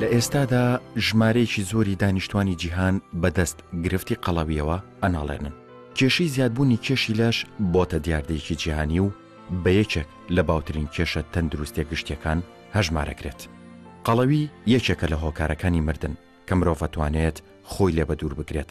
لە ئێستادا ژمارەیەکی زۆری دانیشتوانی جیهان بەدەست گرفتی قەڵەویەوە ئەناڵێنن کێشی زیادبوونی کێشی لەش بۆتە دیاردەیەکی جیهانی و بە یەکێک لە باوترین کێشە تەندروستە گشتیەکان هەژمارەکرێت قەڵەوی یەکێکە لە هۆکارەکانی مردن کە مرۆڤەتوانێت خۆی لێ بە دوور بگرێت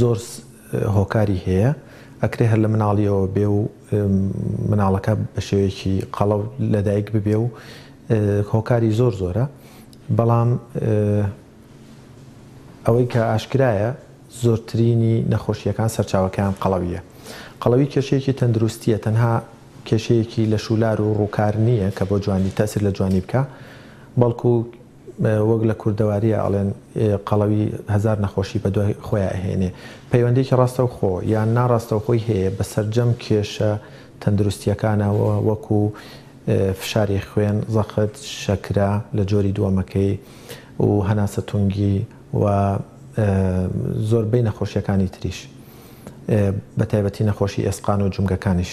زۆر هۆکاری هەیە ئەکرێ هەر لە مناڵیەوە بێ و مناڵەکە بە شێوەیەکی قەڵەو لەدایک ببێ و هۆکاری زۆر زۆرە بەڵام ئەوەی کە ئاشکرایە زۆرترینی نەخۆشیەکان سەرچاوەکەیان قەڵەویە قەڵەوی کێشەیەکی تەندروستیە تەنها کێشەیەکی لە شولار و ڕووکار نییە کە بۆ جوانی تاسر لە جوانی بکە بەڵکو وەک لە کوردەوارییا ئەڵێن قەڵەوی هەزار نەخۆشی بەدوای خۆیا ئەهێنێ، پەیوەندیەکی ڕاستەوخۆ یان ناڕاستەوخۆی هەیە بە سەرجەم کێشە تەندروستیەکانەوە وەکو فشاری خوێن، زەخت، شەکرە لە جۆری دووەمەکەی و هەناسە تونگی و زۆربەی نەخۆشیەکانی تریش بە تایبەتی نەخۆشی ئێسقان و جومگەکانیش.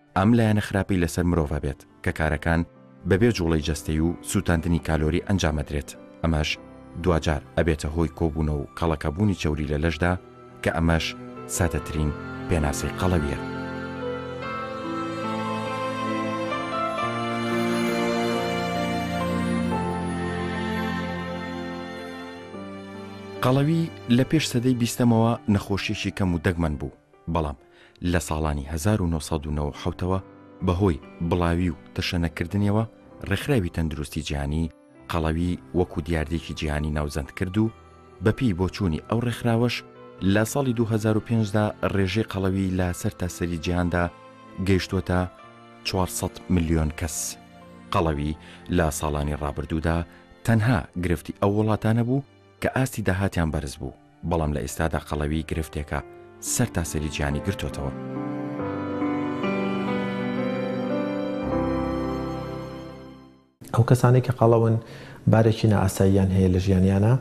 ئەم لایەنە خراپەی لەسەر مرۆڤ هەبێت کە کارەکان بەبێ جوڵەی جەستەی و سوتاندنی کالۆری ئەنجام ئەدرێت ئەمەش دواجار ئەبێتە هۆی کۆبونە و کەڵەکە بوونی چەوری لە لەشدا کە ئەمەش سادەترین پێناسەی قەڵەویە. قەڵەوی لە پێش سەدەی بیستەمەوە نەخۆشیەکی کەم و دەگمەن بوو بەڵام لە ساڵانی هەزار و نۆ سەد و نەوەد و حەوت ەوە بەهۆی بڵاوی و تەشەنەکردنیەوە ڕێکخراوی تەندروستی جیهانی قەڵەوی وەکو دیاردەیەکی جیهانی ناوزەندکرد و بەپێی بۆچوونی ئەو ڕێکخراوەش لە ساڵی دوو هەزار و پێنج دا ڕێژەی قەڵەوی لە سەرتاسەری جیهاندا گەیشتووەتە چوار سەد ملیۆن کەس. قەڵەوی لە ساڵانی ڕابردوودا تەنها گرفتی ئەو وڵاتانە بوو کە ئاستی داهاتیان بەرز بوو، بەڵام لە ئێستادا قەڵەوی گرفتێکە سەرتاسەری جیهانی گرتۆتەوە. ئەو کەسانەی کە قەڵەون بارێکی نائاساییان هەیە لە ژیانیانا،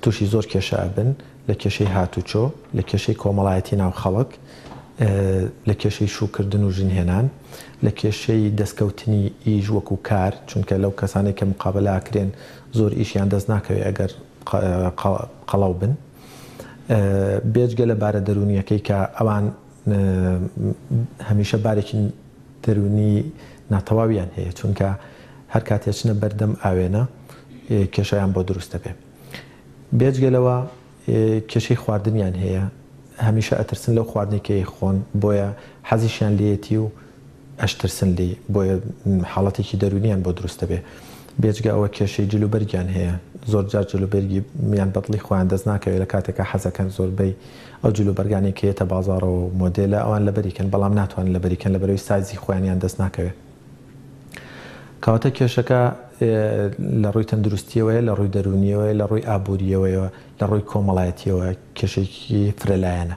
تووشی زۆر کێشە ئەبن، لە کێشەی هاتووچۆ، لە کێشەی کۆمەڵایەتی ناو خەڵک، لە کێشەی شووکردن و ژن هێنان، لە کێشەی دەستکەوتنی ئیش وەکوو کار، چونکە لەو کەسانەی کە مقابەلە ئەکرێن زۆر ئیشیان دەست ناکەوێ ئەگەر قەڵەو بن بێجگە لە بارە دەروونییەکەی کە ئەوان هەمیشە بارێکی دەروونی ناتەواویان هەیە چونکە هەر کاتێ چنە بەردەم ئاوێنە کێشەیان بۆ دروست دەبێ بێجگە لەوە کێشەی خواردنیان هەیە هەمیشە ئەترسن لەو خواردنێکی خۆن بۆیە حەزیشیان لێتی و ئەشترسن لێی بۆیە حاڵەتێکی دەروونیان بۆ دروست دەبێت بێجگە ئەوە کێشەی جل و بەرگیان هەیە زۆرجار جل و بەرگی یان بەدڵی خۆیان دەست ناکەوێت لە کاتێکا حەزەکەن زۆربەی ئەو جل و بەرگانەی کە یەتە بازاڕەوە و مۆدێلە ئەوان لەبەری کەن بەڵام ناتوانن لەبەری کەن لەبەرەوەی سایزی خۆیان یان دەست ناکەوێت کەواتە کێشەکە لە ڕووی تەندروستیەوەیە لە ڕووی دەروونیەوەی لە ڕووی ئابووریەوەیەوە لە ڕووی کۆمەڵایەتیەوە کێشێکی فرەلایەنە.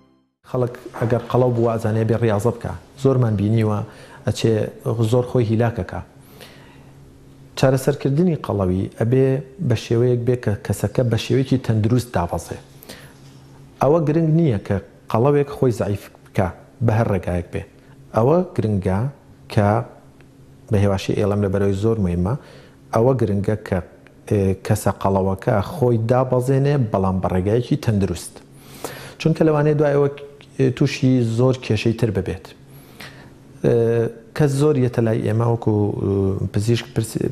خەڵک ئەگەر قەڵەو بوو وائەزانێ ئەبێ ڕیاضە بکا زۆرمان بینیوە ئەچێ زۆر خۆی هیلاک ئەکا چارەسەرکردنی قەڵەوی ئەبێ بەشێوەیەک بێ کە کەسەکە بەشێوەیەکی تەندروست دابەزێ ئەوە گرنگ نیە کە قەڵەوێک خۆی زەعیف بکا بەهەر ڕێگایەک بێ ئەوە گرنگە کە بەهێواشی ئێڵێم لەبەرئەوەی زۆر مویمە ئەوە گرنگە کە کەسە قەڵەوەکە خۆی دابەزێنێ بەڵام بە ڕێگایەکی تەندروست چونکە لەوانەیە دوای ئەوە تووشی زۆر کێشەی تر ببێت. کەس زۆر یەتە لای ئێمە وەکو پزیشک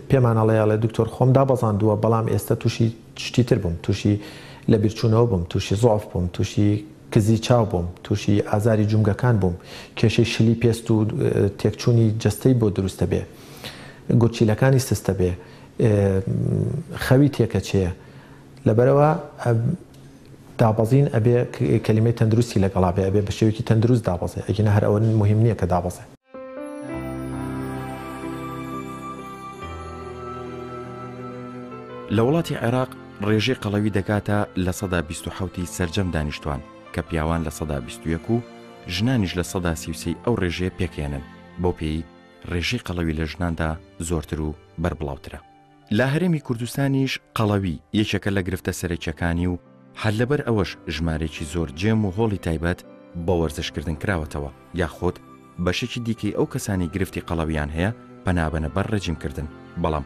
پێمان ئەڵێ ئەڵێ دکتۆر خۆم دابەزاندووە بەڵام ئێستا تووشی شتی تر بووم تووشی لە بیرچوونەوە بووم تووشی زۆف بووم تووشی کزی چاو بووم تووشی ئازاری جومگەکان بووم کێشەی شلی پێست و تێکچوونی جەستەی بۆ دروستە بێ. گورچیلەکانی سستە بێ خەوی تێکەچێ لەبەرەوە دابەزین ئەبێ کەلیمەی تەندروستی لەگەڵا بێ ئەبێ بە شێوکی تەندروست دابەزێ ئەگینە هەر ئەوە مهم نییە کە دابەزێ لە وڵاتی عێراق ڕێژەی قەڵەوی دەگاتە لە سەدا 1970 سرجەم دانیشتوان کە پیاوان لە سەدا 21 و ژنانیش لە سەدا سیوسی ئەو ڕێژەیە پێکێنن بۆ پێی ڕێژەی قەڵەوی لە ژناندا زۆرتر و بەربڵاوترە. لە هەرێمی کوردستانیش قەڵەوی یەکێکە لە گرفتە سەرەکییەکانی و هەر لەبەر ئەوەش ژمارەیەکی زۆر جێم و هۆڵی تایبەت بە وەرزشکردن کراوەتەوە یاخود بەشێکی دیکەی ئەو کەسانەی گرفتی قەڵەوییان هەیە پەنابەنە بەر ڕێجیمکردن بەڵام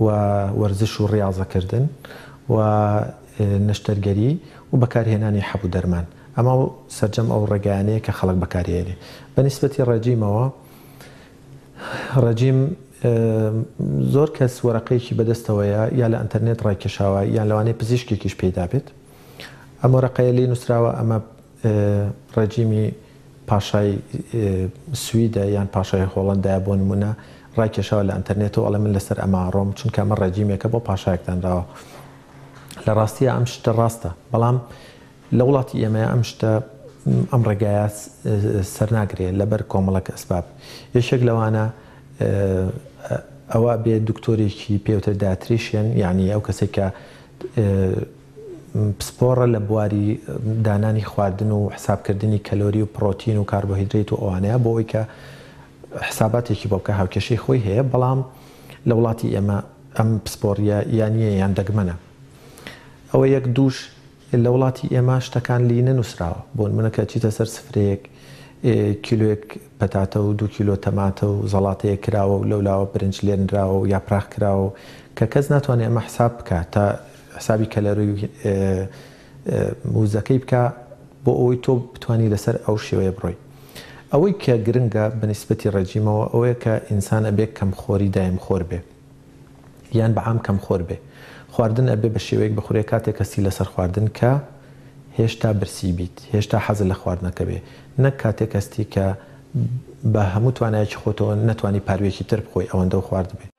و وەرزش و ڕیاضەکردن و نەشتەرگەری و بەکارهێنانی حەب و دەرمان ئەمە سەرجەم ئەو ڕێگایانەیە کە خەڵک بەکاری ئەیەنێ بە نیسبەتی ڕێجیمەوە ڕێجیم زۆر کەس وەرەقەیەکی بەدەستەوەیە یا لە ئەنتەرنێت ڕایکێشاوە یان لەوانەیە پزیشکێکیش پێیدابێت ئەم وەرەقەیە لێی نوسراوە ئەمە ڕێجیمی پاشای سویدە یان پاشای هۆڵەندایە بۆ نموونە ڕایکێشاوە لە ئەنتەرنێتەوە ئەڵێ من لەسەر ئەمە ئەڕۆم چونکە ئەمە ڕێجیمێکە بۆ پاشایەک دانراوە. لە ڕاستییا ئەم شتە ڕاستە بەڵام لە وڵاتی ئێمەیا ئەم شتە ئەم ڕێگایە سەرناگرێ لەبەر کۆمەڵک ئەسباب یەکێک لەوانە ئەوە بێ دکتۆرێکی پێوترێ داتریشێن یعنی ئەو کەسێک کە پسپۆڕە لە بواری دانانی خواردن و حساب کردنی کەلۆری و پڕۆتین و کاربۆهیدریت و ئەوانەیە بۆ ئەوەی کە حساباتێکی بۆ بکا هاوکێشەی خۆی هەیە بەڵام لە وڵاتی ئێمە ئەم پسپۆڕیە یا نیە یان دەگمەنە ئەوە یەک دووش لە وڵاتی ئێمە شتەکان لی نەنوسراوە بۆ نمونە کە چیتە سەر سفرەیەک کیلۆیەک پەتاتە و دوو کیلۆ تەماتە و زەڵاتەیە کراوە و لەولاوە برنج لێنراوە و یاپراخ کراوە کە کەس ناتوانێ ئەمە حساب بکا تا حسابی کەلەری وزەکەی بکە بۆ ئەوەی تۆ بتوانی لەسەر ئەو شێوەیە بڕۆی ئەوەی کە گرنگە بە نیسبەتی ڕێجیمەوە ئەوەیە کە ئینسان ئەبێ کەم خۆری دایم خۆر بێ یان بە عام کەم خۆر بێ خواردن ئەبێ بە شێوەیەک بخورێ کاتێک هەستی لەسەر خواردن کە هێشتا برسی بیت هێشتا حەزت لە خواردنەکە بێ نەک کاتێک هەستی کە بە هەموو توانایەکی خۆتەوە نەتوانی پارویەکی تر بخۆی ئەوەندەو خواردبێ.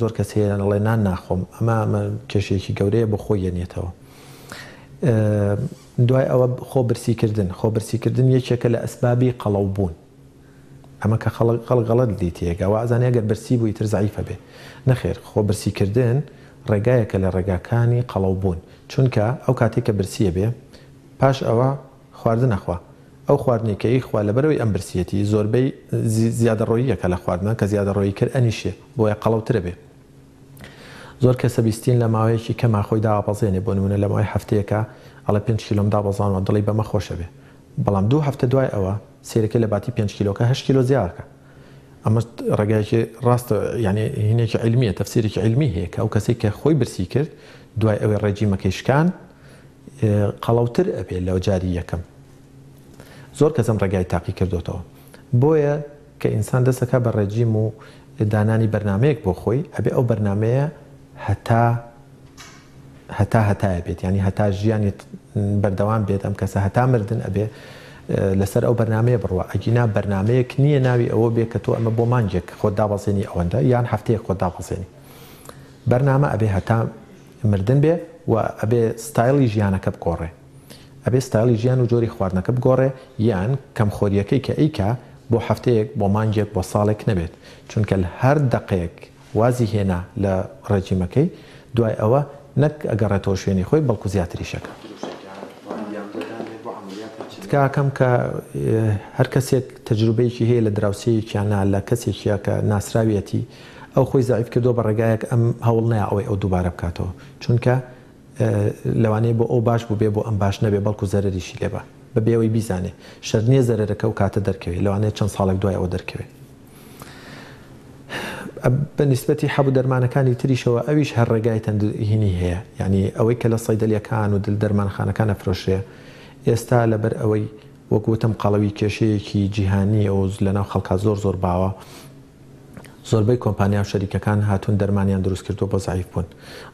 زۆر کەس هەیە ئەڵێ نان ناخۆم ئەمە کێشەیەکی گەورەیە بۆ خۆی یەنێتەوە دوای ئەوە خۆ برسی کردن خۆ برسی کردن یەکێکە لە ئەسبابی قەڵەو بوون ئەمە کە خەڵک خەڵ گەڵت دی تێگە وازانە گەر برسی بووی تر زعیفە بێ نەخێر خۆ برسی کردن ڕێگایەکە لە ڕێگاکانی قەڵەو بوون چونکە ئەو کاتێک کە برسیە بێ پاش ئەوە خواردن نەخوا ئەو خواردنەی کە ئیخوا لەبەرئەوەی ئەم برسیەتی زۆربەی زیادەڕۆییەکە لە خواردنە کە زیادەڕۆیی کرد ئەنیشێ بۆیە قەڵەو ترە بێ زۆر کەسە بیستین لە ماوەیەکی کەما خۆی داابەزێنێ بۆ نمونە لە ماوەی هەفتەیەکا ئەڵێ پێنج کیلۆم دابەزاندوە دڵی بەمە خۆشە بێ بەڵام دوو هەفتە دوای ئەوە سەیرەکەی لە باتی پێنج کیلۆکە هەشت کیلۆ زیاکە ئەمە ڕێگایەکی ڕاستە یانی هینێکی عیلمیە تەفسیرێکی عیلمی هەیە کە ئەو کەسەی کە خۆی برسی کرد دوای ئەوەی ڕێجیمەکەی شکاند قەڵەوتر ئەبێ لە جاری یەکەم زۆر کەس ئەم ڕێگای تاقی کردۆتەوە بۆیە کە ئینسان دەست ئەکا بە ڕێجیم و دانانی بەرنامەیەک بۆ خۆی ئەبێ ئەو بەرنامەیە هەتا هەتا هەتایە بێت یانی هەتا ژیانی بەردەوام بێت ئەم کەسە هەتا مردن ئەبێ لەسەر ئەو بەرنمەیە بڕوە ئەگینا بەرنمەیەک نییە ناوی ئەوە بێ کە تۆ ئەمە بۆ مانگێک خۆ دابەزێنی ئەوەندە یان هەفتەیە خۆ دابەزێنی بەرنامە ئەبێ هەتا مردن بێ و ئەبێ ستایڵی ژیانەکە بگۆڕێ ئەبێ ستایڵی ژیان و جۆری خواردنەکە بگۆڕێ یان کەم خۆریەکەی کە ئەیکا بۆ هەفتەیەک بۆ مانگێک بۆ ساڵێک نەبێت چونکە لە هەر دەقەیەک وازی هێنا لە ڕێجیمەکەی دوای ئەوە نەک ئەگەڕێتەوە شوێنی خۆی بەڵکو زیاتریش ئەکا. تکاکەم کە هەر کەسێک تەجروبەیەکی هەیە لە دراوسێیەک یان نا لە کەسێکیا کە ناسراویەتی. ئەو خۆی زەعیف کردوە بە ڕێگایەک ئەم هەوڵ نەیا ئەوەی ئەو دووبارە بکاتەوە چونکە لەوانەیە بۆ ئەو باش بوبێ بۆ ئەم باش نەبێ بەڵکو زەرەریشی لێ با بەبێ ئەوەی بیزانێ شەرت نیە زەرەرەکە ئەو کاتە دەرکەوێ لەوانەیە چەند ساڵێک دوای ئەوە دەرکەوێ بە نیسبەتی حەبو دەرمانەکانی تریشەوە ئەویش هەر ڕێگای تەند هینی هەیە یانی ئەوەی کە لە صەیدەلیەکان و دل دەرمانخانەکان ئەفرۆشرێ ئێستا لەبەر ئەوەی وەک وتم قەڵەوی کێشەیەکی جیهانیە و لەناو خەڵکا زۆر زۆر باوە زۆربەی کۆمپانیاو شەریکەکان هاتوون دەرمانیان دروست کردووە بۆ زەعیف بوون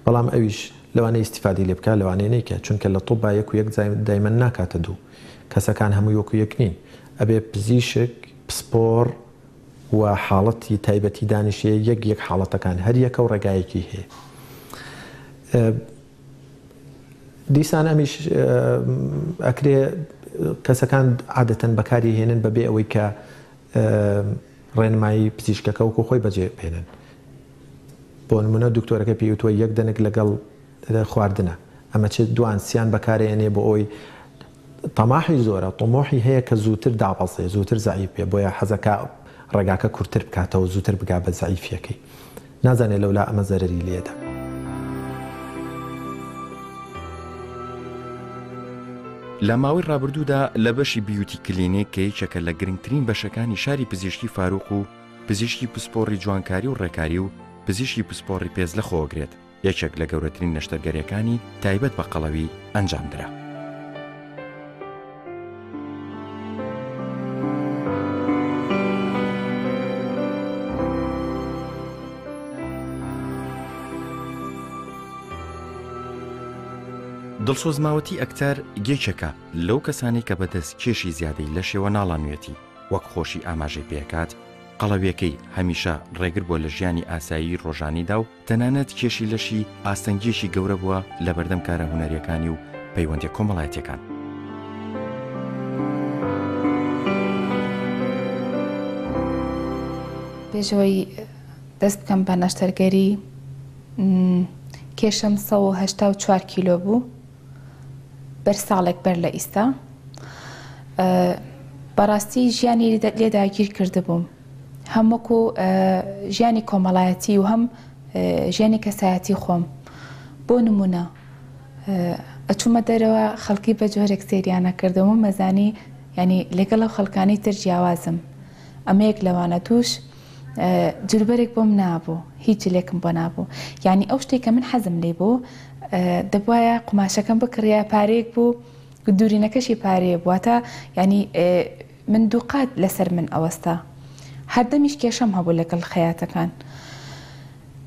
بەڵام ئەویش لەوانەیە ئیستیفادەی لێ بکا لەوانەیە نەیکا چونکە لە طوبا یەک و یەک دایمەن ناکاتە دوو کەسەکان هەمووی وەکو یەک نین ئەبێ پزیشک پسپۆڕ و حاڵەتی تایبەتی دانیشێ یەک یەک حاڵەتەکان هەر یەکە و ڕێگایەکی هەیە دیسان ئەمیش ئەکرێ کەسەکان عادەتەن بەکاری هێنن بەبێ ئەوەی کە ڕێنمایی پزیشکەکە وەکو خۆی بەجێ بهێنن بۆ نمونە دکتۆرەکە پێی وتوە یەک دەنک لەگەڵ خواردنە ئەمە چ دوان سیان بەکارێنێ بۆ ئەوی تەماحی زۆرە طموحی هەیە کە زووتر دابەزێ زووتر زەعیف بێ بۆیە حەزەکە ڕێگاکە کورتتر بکاتەوە زووتر بگا بە زەعیفیەکەی نازانێ لەولا ئەمە زەرەری لێدە. لە ماوەی ڕابردوودا لە بەشی بیوتی کلینیک کە یەکێکە لە گرنگترین بەشەکانی شاری پزیشکی فاروق و پزیشکی پسپۆڕی جوانکاری و ڕێکاری و پزیشکی پسپۆڕی پێست لە خۆگرێت یەکێک لە گەورەترین نەشتەرگەریەکانی تایبەت بە قەڵەوی ئەنجامدرا. دڵسۆز ماوەتی ئەکتەر گێچەکە لەو کەسانی کە بەدەست کێشی زیادەی لە شێوە ناڵانوێتی وەک خۆشی ئاماژەی پێکات قەڵەویەکەی هەمیشە ڕێگر بۆ لە ژیانی ئاسایی ڕۆژانیدا و تەنانەت کێشی لەشی ئاستەنگییەکی گەورە بووە لە بەردەم کارە هونەرییەکانی و پەیوەندییە کۆمەڵایەتییەکان. پێش ئەوەی دەست بکەم بە نەشتەرگەری، کێشم سەد و هەشتا و چوار کیلۆ بوو، بەر ساڵێک بەر لە ئیستا. بەڕاستی ژیانی لێ داگیر کردبووم. هەم وەکو ژیانی کۆمەڵایەتی و هەم ژیانی کەسایەتی خۆم بۆ نمونە ئەچوومە دەرەوە خەڵکی بە جۆرێک سریانە کردەوە مەزانی ینی لەگەڵ ئەو خەڵکانی تر جیاوازم ئەمە یەک لەوانە دوش جلوبەرێک بۆم نابوو هیچ جلێکم بۆ نابوو یعنی ئەو شتێک کە من حەزم لی بوو دەبواە قوماشەکەم بکڕە پارێک بوو دوورینەکەشی پارەیە بووە تا ینی من دووقات لەسەر من ئەوەستا. هەردەمیش کێشەم هەبوو لەگەڵ خەیاتەکان.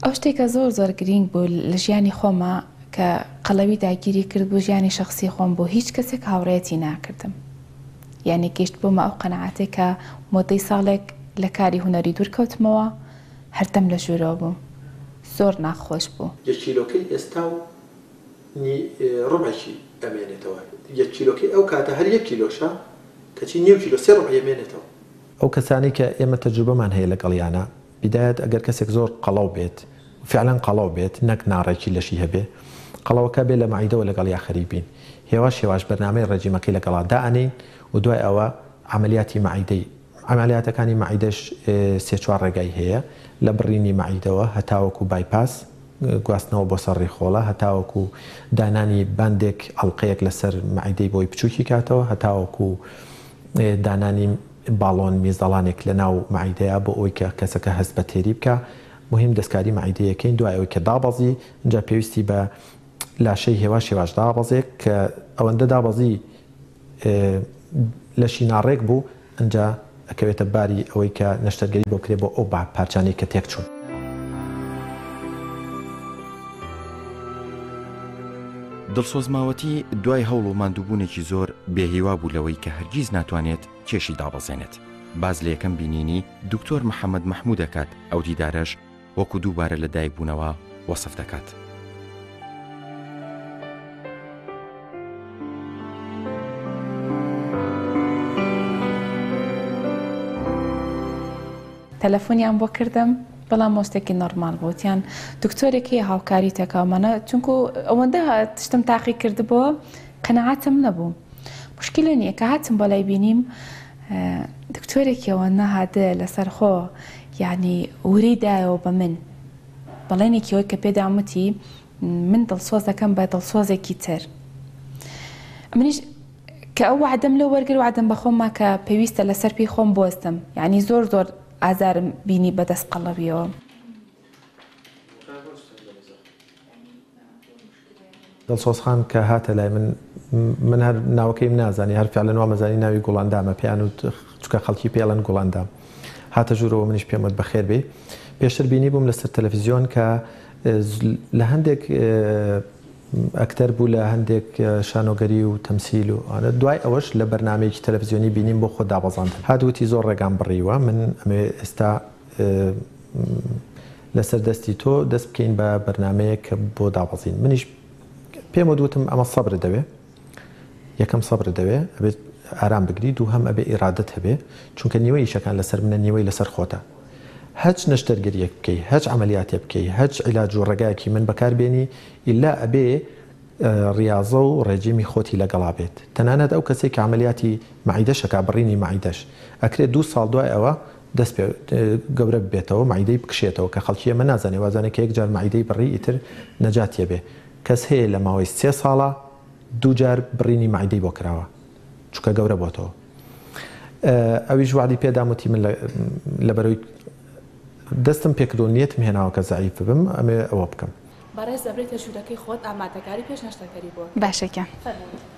ئەو شتێکە زۆر زۆر گرینگ بوو لە ژیانی خۆما کە قەڵەوی داگیری کردبوو ژیانی شەخسی خۆم بوو هیچ کەسێک هاوڕێیەتی ناکردم. یانی گەیشتبوومە ئەو قەناعەتەی کە مۆدەی ساڵێک لە کاری هونەری دوور کەوتمەوە هەردەم لە ژوورەوە بووم. زۆر ناخۆش بوو. یەک کیلۆکەی ئێستا و. نی ڕبعێکی ئەمێنێتەوە یەک کیلۆکەی ئەو کاتە هەر یەک کیلۆشە کەچی نیو کیلۆ سێ ڕبعی ئەمێنێتەوە. ئەو کەسانەی کە ئێمە تەجروبەمان هەیە لەگەڵیانا بیدایەت ئەگەر کەسێک زۆر قەڵەو بێت و فعلەن قەڵەو بێت نەک ناڕێکی لەشی هەبێ قەڵەوەکە بێ لە مەعیدەوە لەگەڵیا خەریک بین هێواش هێواش بەرنامەی ڕێجیمەکەی لەگەڵا دائەنێین و دوای ئەوە عەمەلیاتی مەعیدەی عەمەلیاتەکانی مەعیدەش سێ چوار ڕێگای هەیە، لە بڕینی مەعیدەوە هەتاوەکو بایپاس، گواستنەوە بۆ سەر ڕیخۆڵە، هەتاوەکو دانانی باندێک، ئەڵقەیەک لەسەر مەعیدەی بۆی بچووکی کاتەوە، هەتاوەکو دانانی باڵۆن، میزەڵانێک لەناو مەعیدەیا بۆ ئەوەی کە کەسەکە هەست بە تێری بکا. موهیم دەستکاری مەعیدەی ئەکەین دوای ئەوەی کە دابەزی، ئینجا پێویستی بە لاشەی هێواش هێواش دابەزێک کە ئەوەندە دابەزی لەشی ناڕێک بوو ئنجا ئەکەوێتە باری ئەوەی کە نەشتەرگەری بۆ بکرێت بۆ ئەو بە پارچانەی کە تێک چوون. دڵسۆز ماوەتی دوای هەوڵ و ماندووبوونێکی زۆر بێ هیوا بوو لەوەی کە هەرگیز ناتوانێت کێشی دابەزێنێت باز لە یەکەم بینینی دکتۆر محەمەد مەحموو دەکات ئەو دیدارەش وەکو دووبارە لە دایک بوونەوە وەسف دەکات. تەلەفۆنیان بۆ کردم بەڵام مۆستێکی نۆرمال بوتیان دکتۆرێک هەیە هاوکاری تەکاومانە چونکو ئەوەندە تشتم تاقی کردبووە قەنەعاتم نەبوو مشکلە نییە کە هاتم بەلای بینیم دکتۆرێکیەوە نەهادە لەسەر خۆ یانی وری دایەوە بە من. بەڵێنێکی وەک کە پێدام وتی من دڵسۆز دەکەم بە دڵسۆزێکی تر. ئەمنیش کە ئەو وەعدەم لەو وەرگر وەعدم بە خۆم ما کە پێویستە لە سەر پێی خۆم بۆستم. یانی زۆر زۆر ئازارم بینی بە دەست قەڵەویەوە. دڵسۆز خان کە هاتە لای من من هەر ناوەکەیم نازانی هەر فعلەن وامەزانی ناوی گوڵاندامە پێیان وت چونکە خەڵکی پێی ئەڵێن گوڵاندام هاتە ژوورەوە منیش پێم وت بەخێر بێی پێشتر بینیبووم لەسەر تەلەفزیۆن کە لە هەندێک ئەکتەر بوو لە هەندێک شانۆگەری و تەمسیل و ئەوانە دوای ئەوەش لە بەرنامەیەکی تەلەفزیۆنی بینیم بۆ خۆ دابەزاندن هات وتی زۆر ڕێگام بڕیوە من ئەمەوێ ئێستا لەسەر دەستی تۆ دەست بکەین بە بەرنامەیەک بۆ دابەزین منیش پێم وت وتم ئەمە سەبرت دەوێ یەکەم سەبرت دەوێ ئەبێت ئارام بگری دوو هەم ئەبێ ئیرادەت هەبێ چونکە نیوەی ئیشەکان لەسەر منە نیوەی لەسەر خۆتە هەچ نەشتەرگەریەک بکەی هەچ عملیاتێ بکەی هەچ علاج و ڕێگایەکی من بەکار بێنی ئیلا ئەبێ ڕاضە و ڕێجیمی خۆتی لەگەڵا بێت تەنانەت ئەو کەسێک کە عملیاتی معیدەشەکە بڕینی معیدەش ئەکرێت دوو ساڵ دوای ئەوە دەست پێ گەورە ببێتەوە مەعیدەی بکشێتەوە کە خەڵکی ئێمە نازانێ وازانێ کە یەکجار مەعیدەی بڕی ئیتر نەجات یەبێ کەس هەیە لە ماوەی سێ ساڵا دوو جار بڕینی مەعیدەی بۆ کراوە چونکە گەورە بۆتەوە ئەویش وعدی پێدام وتی من لەبەرەوەی دەستم پێکردو نیەتم هێناوە کە زەعیف ببم ئەمێ ئەوە بکەم بەڕێز دەبرێتە ژوورەکەی خۆت ئامادەکاری پێش نەشتەرگەری بۆ بکە باشە گیان فەرموو.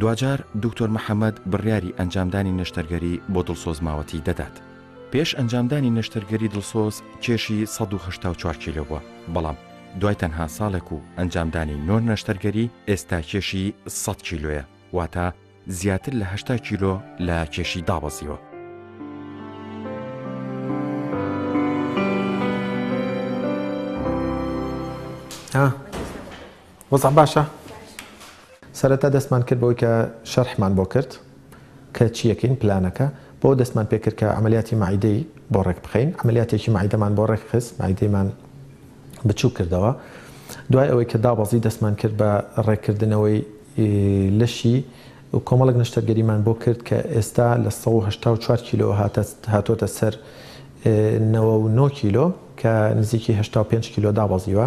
دواجار دوکتۆر محەمەد بڕیاری ئەنجامدانی نەشتەرگەری بۆ دڵسۆز ماوەتی دەدات. پێش ئەنجامدانی نەشتەرگەری دڵسۆز کێشی سەد و هەشتا و چوار کیلۆ بووە، بەڵام دوای تەنها ساڵێک و ئەنجامدانی نۆ نەشتەرگەری ئێستا کێشی سەد کیلۆیە، واتە زیاتر لە هەشتا کیلۆ لە کێشی دابەزیوە. وەزع باشە؟ سەرەتا دەستمان کرد بەوەی کە شەرحمان بۆ کرد کە چیەکەین پلانەکە بۆ دەستمان پێکرد کە عملیاتی معیدەی بۆ ڕێک بخەین عملیاتێکی معیدەمان بۆ ڕێک خست معیدەیمان بچوو کردەوە دوای ئەوەی کە دابەزی دەستمان کرد بە ڕێککردنەوەی لەشی و کۆمەڵێک نەشتەرگەریمان بۆ کرد کە ئێستا لە سەد و هەشتا و چوار کیلۆ هاتۆتە سەر نەوە و نۆ کیلۆ کە نزیکی هەشتا و پێنج کیلۆ دابەزیوە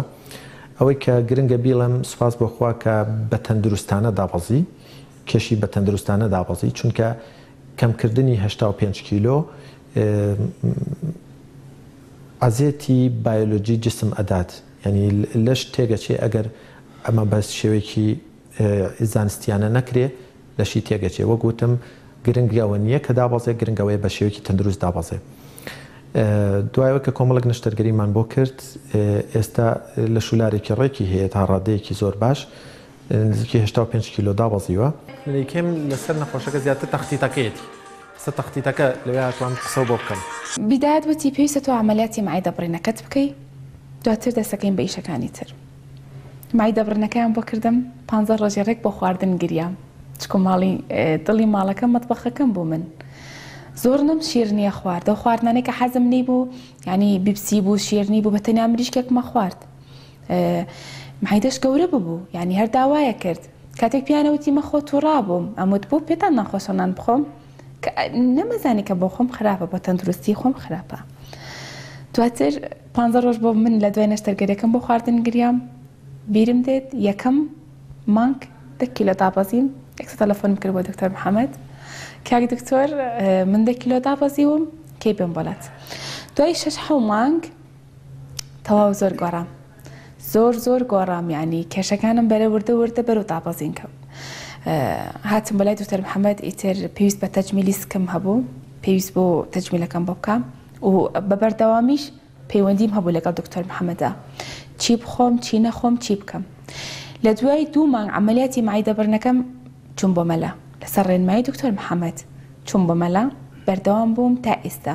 ئەوەی کە گرنگە بیڵێم سوپاس بۆ خوا کە بە تەندروستانە دابەزی کێشی بە تەندروستانە دابەزی چونکە کەمکردنی هەشتا و پێنج کیلۆ عەزێتی بایۆلۆجی جسم ئەدات یانی لەش تێگەچێ ئەگەر ئەمە بە شێوەیەکی زانستیانە نەکرێ لەشی تێگەچێ وەک وتم گرنگ ئەوە نیە کە دابەزێ گرنگ ئەوەیە بە شێوەیەکی تەندروست دابەزێ دوای ئەوەی کە کۆمەڵێک نەشتەرگەریمان بۆ کرد ئێستا لە شولارێکی ڕێکی هەیە تا ڕادەیەکی زۆر باش نزیکی هەشتا و پێنج کیلۆ دابەزیوە. لەیکێم لەسەر نەخۆشەکە زیاتر تەختیتەکەیەتی قسە تەختیتەکە لەوێ هاتووە من قسەو بۆ بکەم. بیداد وتی پێویستە تۆ عەمەلیاتی مەعیدە بڕینەکەت بکەی دواتر دەستەکەین بە ئیشەکانی تر. مایدە بڕنەکەیان بۆ کردم پانزە ڕۆژێ ڕێک بۆ خواردن گریام چکۆ ماڵی دڵی ماڵەکەم مەتبەخەکەم بوو من زۆر نم شیرنیە خواردە و خواردنانێکە حەزم نەی بوو ینی بیپسی بوو شیرنی بوو بە تەنیا مریشکێکمە خوارد مایدەش گەورە ببوو ینی هەر داوایە کرد کاتێک پیانەوتی مەخۆ تووڕا بووم ئەموت بوو پێتان ناخۆشەنان بخۆم نەمەزانی کە بۆ خۆم خراپە بە تەندروستی خۆم خراپە دواتر پانزە ڕۆژ بۆ من لە دوای نەشتەرگەریەکەم بۆ خواردن گریام بیرم دێت یەکەم مانگ دە کیلۆ دابەزیم یەکسەر تەلەفۆنم کرد بۆ دکتۆر محەمەد کاک دکتۆر من دە کیلۆ دابەزیوم کەی بێم بۆلات دوای شەش حەو مانگ تەواو زۆر گۆڕام زۆر زۆر گۆڕام یعنی کێشەکانم بەرە وردە وردە بەرەو دابەزین کەوت هاتم بەلای دکتۆر محەمەد ئیتر پێویست بە تەجمیلی سکم هەبوو پێویست بۆ تەجمیلەکەم بۆ بکەم و بە بەردەوامیش پەیوەندیم هەبوو لەگەڵ دکتۆر محەمەدا چی بخۆم چی نەخۆم چی بکەم لە دوای دوو مانگ عملیاتی معیدە بڕنەکەم چوم بۆ مەلا لەسەر ڕێنمایی دکتۆر محەمەد چوم بۆ مەلا بەردەوام بووم تا ئیستا.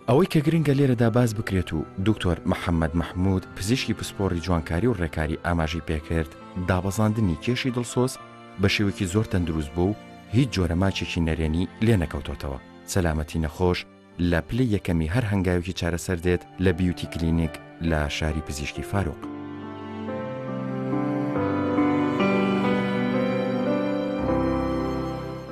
ئەوەی کە گرنگە لێرەدا باس بکرێت و دکتۆر محەمەد مەحمود پزیشکی پسپۆڕی جوانکاری و ڕێکاری ئاماژەی پێکرد دابەزاندنی کێشی دڵسۆز بە شێوەیەکی زۆر تەندروست بووە و هیچ جۆرە ماچێکی نەرێنی لێ نەکەوتۆتەوە، سەلامەتی نەخۆش لە پلەی یەکەمی هەر هەنگاوێکی چارەسەر دێت لە بیوتی کلینیک لە شاری پزیشکی فاروق.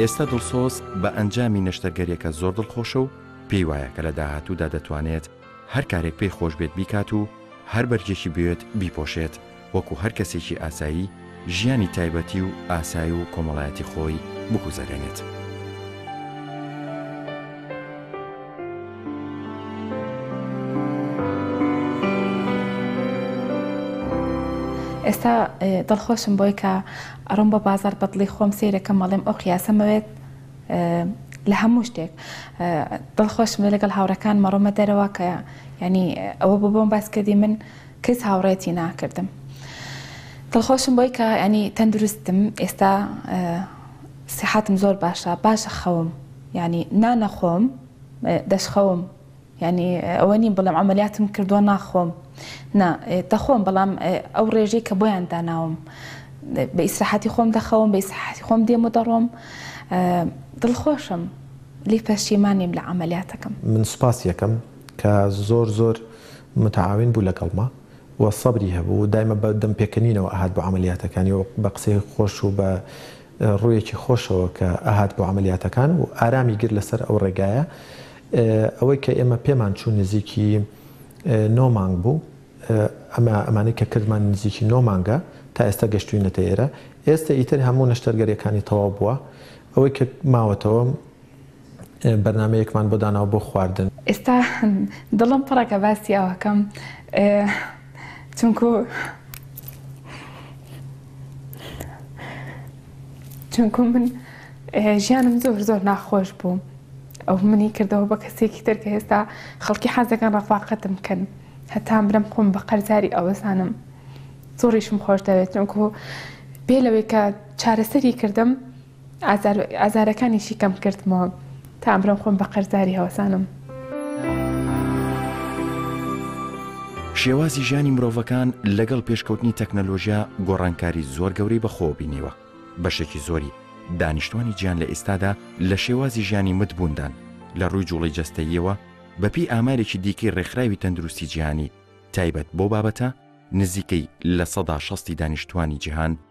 ئێستا دڵسۆز بە ئەنجامی نەشتەرگەریەکە زۆر دڵخۆشە و پێی وایە کە لە داهاتوودا دەتوانێت هەر کارێک پێی خۆش بێت بیکات و هەر بەرجێکی بێت بیپۆشێت وەکو هەر کەسێکی ئاسایی ژیانی تایبەتی و ئاسای و کۆمەڵایەتی خۆی بگوزەرێنێت. ئێستا دڵخۆشم بۆی کە ئەڕۆم بە بازار بەدڵی خۆم سیرەکەم مەڵێم ئەو قیاسەمەوێت لە هەموو شتێک دڵخۆشم لەگەڵ هاوڕەکان مەڕۆمە دەرەوە کە ینی ئەوە ببووم باسکردی من کەس هاوڕێتی ناکردم دڵخۆشم بۆی کە ینی تەندروستم ئێستا سحاتم زۆر باشە باشە خەوم ینی نانەخۆم دەشخەوم ینی ئەوە نیم بڵم ئەمەلیاتم کردووە ناخۆم نا دەخۆم بەڵام ئەو ڕێژەی کە بۆیان داناوم بە ئیسراحەتی خۆم دەخەوم بە ئیسراحەتی خۆم دێم و دەڕۆم دڵخۆشم لی پەشیمانیم لە ئەمەلیاتەکەم من سوپاس یەکەم کە زۆر زۆر متعاون بوو لەگەڵما و سەبری هەبوو و دایمە بە دەم پێکەنینەوە ئەهات بۆ عەمەلیاتەکانی و بە قسەی خۆش و بە ڕوویەکی خۆشەوە کە ئەهات بۆ عەمەلیاتەکان و ئارامی گرت لەسەر ئەو ڕێگایە ئەوەی کە ئێمە پێمان چوو نزیکی نۆ مانگ بوو ئەمە ئەمانەی کە کردمان نزیکی نۆ مانگە تا ئێستا گەشتوینەتە ئێرە ئێستا ئیتر هەموو نەشتەرگەریەکانی تەواو بووە ئەوەی کە ماوەتەوە بەرنامەیەکمان بۆ داناوە بۆ خواردن. ئێستا دڵم پڕە کە باسی ئەوەکەم چونکو چونکو من ژیانم زۆر زۆر ناخۆش بوو ئەو منی کردەوە بە کەسێکی تر کە ئێستا خەڵکی حەزەکەن ڕەفاقەتم بکەن هەتام برم خۆم بە قەرزاری ئەوەسانم زۆریشم خۆش دەوێت چونکو بێ لەوەی کە چارەسەری کردم ئازار ئازارەکانیشی کەم کردمەوە تا ئەمرۆم خۆم بە قەرزاری هەوەسانم. شێوازی ژیانی مرۆڤەکان لەگەڵ پێشکەوتنی تەکنەلۆژیا گۆڕانکاری زۆر گەورەی بەخۆوە بینیوە، بەشێکی زۆری دانیشتوانی جیان لە ئیستادا لە شێوازی ژیانی مت بووندان، لە ڕووی جوڵەی جەستەییەوە بە پێی ئامارێکی دیکەی ڕێکخراوی تەندروستی جیهانی تایبەت بەو بابەتە، نزیکەی لە سەدا شەستی دانیشتوانی جیهان،